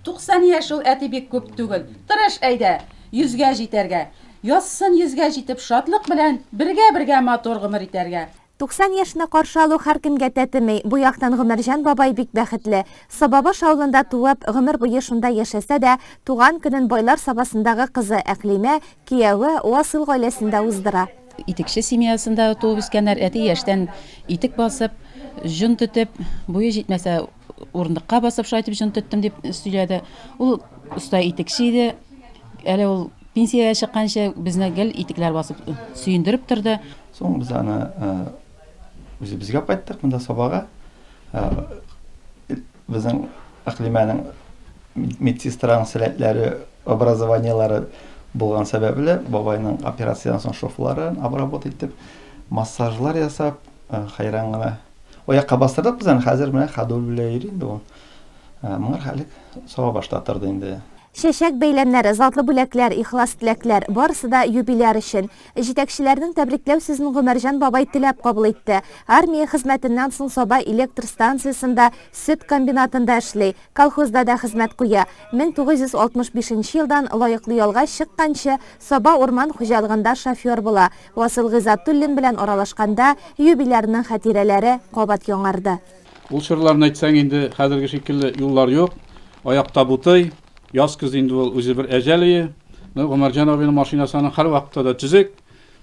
Туксан яшь ул, әти бик күп түгел. Тырыш әйдә, йөзгә җитәргә. Язсын йөзгә җитеп шатлык белән, бергә-бергә матур гомер итәргә. Туксан яшьне каршы алу һәркемгә тәтеми, бу яктан Гомәрҗан бабай бик бәхетле. Сабабаш авылында туып, гомер буе шунда яшәсә дә, туган көнен Байлар Сабасындагы кызы Әкълимә, кияве, Васыйл гаиләсендә уздыра. Итекче семьясында туып үскәннәр, әти яшьтән итек басып, җон түтеп, буе җитмәсә, Урындыкка басып шулай итеп җон тоттым, дип сөйләде. Ул оста итекче иде. Әле ул пенсиягә чыкканчы безне гел итекләр басып сөендереп торды. Соң без аны үзебезгә кайттык, монда Сабага. Безнең Әкълимәнең медсестраның сәләтләре, образованиеләре булган сәбәпле, бабайның операциядән соң шовларын обработ итеп, массажлар ясап, хәйран гына Аякка бастырдык без аны, хәзер менә ходуль белән йөри инде ул. Ә, моңар хәлек Сабабашта торды инде. Чәчәк бәйләмнәре, затлы бүләкләр, ихлас теләкләр, барысы да юбиляр өчен. Җитәкчеләрнең тәбрикләү сүзен Гомәрҗан бабай теләп кабул итте. Армия хезмәтеннән соң Саба электр станциясендә, сөт комбинатында эшли, колхозда да хезмәт куя. 1965 нче елдан лаеклы ялга чыкканчы, Саба урман хуҗалыгында шофер була. Васил Гыйззатуллин белән аралашканда, юбилярның хатирәләре кабат яңарды. Ул чорларны әйтсәң, инде хәзерге шикелле юллар юк, аяк табутый, яз-көз инде ул үзе бер әҗәл өе. Менә Гомәрҗан абыйның машинасы аның һәрвакытта да төзек,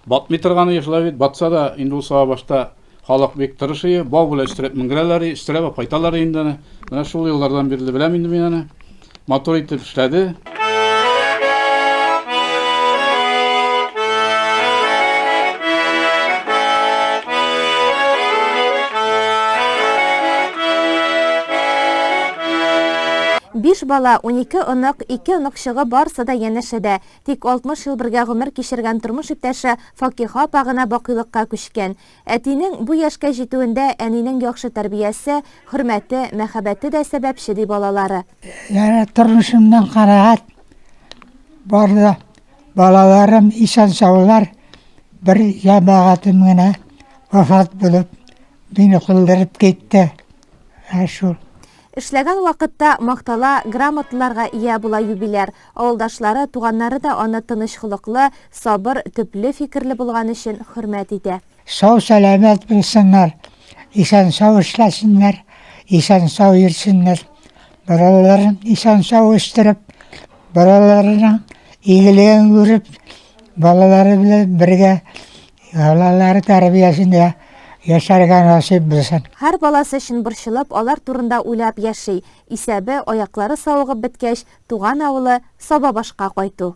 батмый торган өе шулай бит, батса да, инде ул Сабабашта Халык бик тырышые, бау белән өстерәп менгерәләр, өстерәп алып кайталар инде аны. Менә шул еллардан бирле беләм инде мин аны. Матур итеп эшләде. Биш бала, унике онык, ике оныкчыгы барысы да янәшәдә. Тик 60 ел бергә гомер кичергән тормыш иптәше Факиха апа гына бакыйлыкка күчкән. Әтинең бу яшькә җитүендә әнинең яхшы тәрбиясе, хөрмәте, мәхәббәте дә сәбәпче, ди балалары. Янә тормышымнан канәгать. Бар да балаларым исән-саулар, бер җәмәгатем генә вафат булып, мине калдырып китте. Ә шул. Эшләгән вакытта мактала, грамоталарга ия була юбиляр. Авылдашлары, туганнары да аны тыныч холыклы, сабыр, төпле фикерле булган өчен хөрмәт итә. Сау-сәламәт булсыннар, исән-сау эшләсеннәр, исән-сау йөрсеннәр. Балаларын исән-сау үстереп, балаларының игелеген күреп, балалары белән бергә Балалар тәрбиясендә яшәргә насыйп булсын. Һәр баласы өчен борчылып, алар турында уйлап яши. Исәбе, аяклары савыгып беткәч, туган авылы Сабабашка кайту.